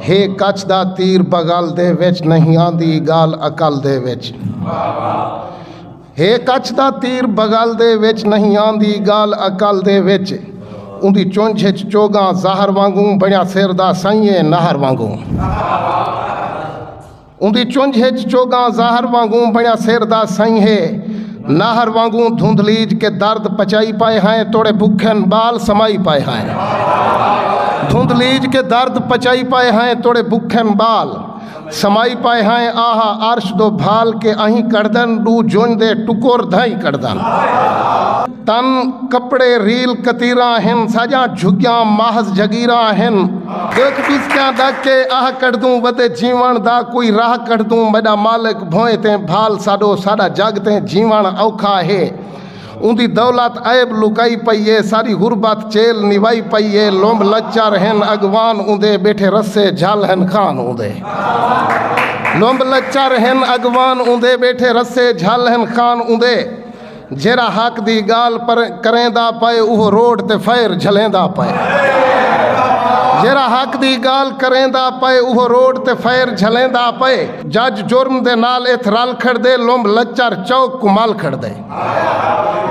ہے کچھ دا تیر بغل دے وچ نہیں آندی گال عقل دے وچ ہے کچھ دا تیر بغل دے وچ نہیں آندی گال عقل دے وچ اوندی چونجھ وچ چوگاں زہر وانگوں بنیا سر دا سائیں نہر وانگوں اوندی چنجھ اچ چوگاں زہر وانگوں بنڑیا سر دا سئیں ہے نہر وانگوں دھندلیج کے درد پچائی پائے ہائیں توڑے بکھن بال سمائی پائے ہائیں دھندلیج کے درد پچائی پائے ہائیں توڑے بکھن بال سمائی پائے ہائیں آہا عرش دو بھال کے اہیں کڑدن ڈو جنج دے ٹکور دھائیں کڑدن تن کپڑے ریل کتیراں ہن ساجاں جھگیاں محض جھگیراں ہن ڈیکھ ڈسکیاں دا کے آہ کڈھدوں ودے جیون دا کوئی راہ کڈھدوں میڈا مالک بھوئیں تیں بھال ساڈو ساڈا جگ تیں جیون اوکھا ہے اوندی دولت عیب لکائی پئی اے ساڈی غربت چیل نوائی پئی اے لمب لچر ہن اگوان اوندے بیٹھے رسے جھل ہن خان اوندے لمب لچر ہن اگوان اوندے بیٹھے رسے جھل ہن خان اوندے۔ جیرھا حق دی گال کریندا پئے اوہو روڈ تے فائر جھلیندا پئے جیرھا حق دی گال کریندا پئے اوہو روڈ تے فائر جھلیندا پئے جج جرم دے نال اتھ رل کھڑ دے لومب لچر چوک کو مال کھڑ دے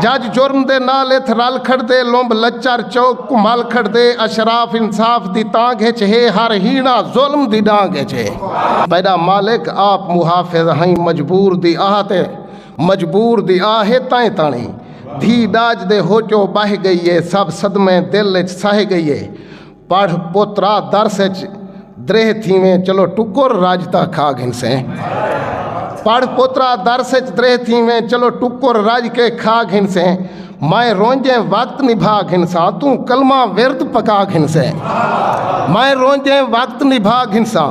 جج جرم دے نال اتھ رل کھڑ دے لومب لچر چوک کو مال کھڑ دے اشراف انصاف دی تانگ ہے چھے ہر ہینا ظلم دی ڈانگ ہے چھے پیدا مالک آپ محافظ ہیں مجبور دی آہتے مجبور دی آہ اے تائیں تاݨی دھی ݙاج دے ہوچو ٻہہ ڳئی اے سب صدمے دل اچ سہہ ڳئی اے پڑھ پوترا درس اچ دریہہ تھیویں چلو ٹکر رڄ تاں کھا گھنسیں پڑھ پوترا درس اچ دریہہ تھیویں چلو ٹکر رڄ کے کھا گھنسیں میں رونجیں وقت نبھا گھنساں توں کلمہ ورد پکا گھنسیں میں رونجیں وقت نبھا گھنساں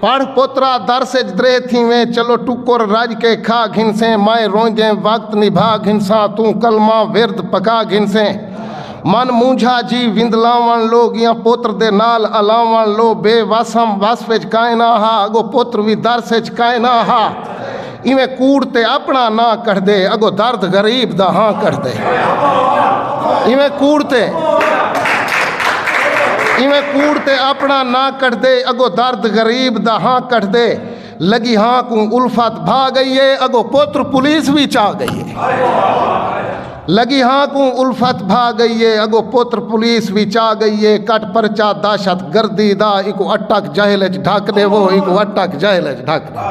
پڑھ پوترا درس اچ دریہہ تھیویں چلو ٹکر رڄ کے کھا گھنسیں مائیں رونجیں وقت نبھا گھنساں توں کلمہ ورد پکا گھنسیں من مونجھا جی وندلاوݨ لو گیاں پوتر دے نال الاوݨ لو بے وس ہم وصف اچ کائنا ہا اگو پوتر وی درس اچ کائنا ہا۔ ایویں کوڑ تے اپنا ناں کڈھدے اگو درد غریب دا ہاں کڈھدے ایویں کوڑ تے ایویں کوڑ تے اپنا ناں کڈھدے اگو درد غریب دا ہاں کڈھدے لگی ہاں کو الفت بھا گئی ہے اگو پوتر پولیس بھی چاہ گئی ہے لگی ہاں کوں الفت بھا گئی اے اگو پتر پولیس وی چا گئی اے کٹ پرچا دہشت گردی دا ایکوں اٹک جہل اچ ڈھک ڈیوو ایکوں اٹک جہل اچ ڈھک ڈیوو۔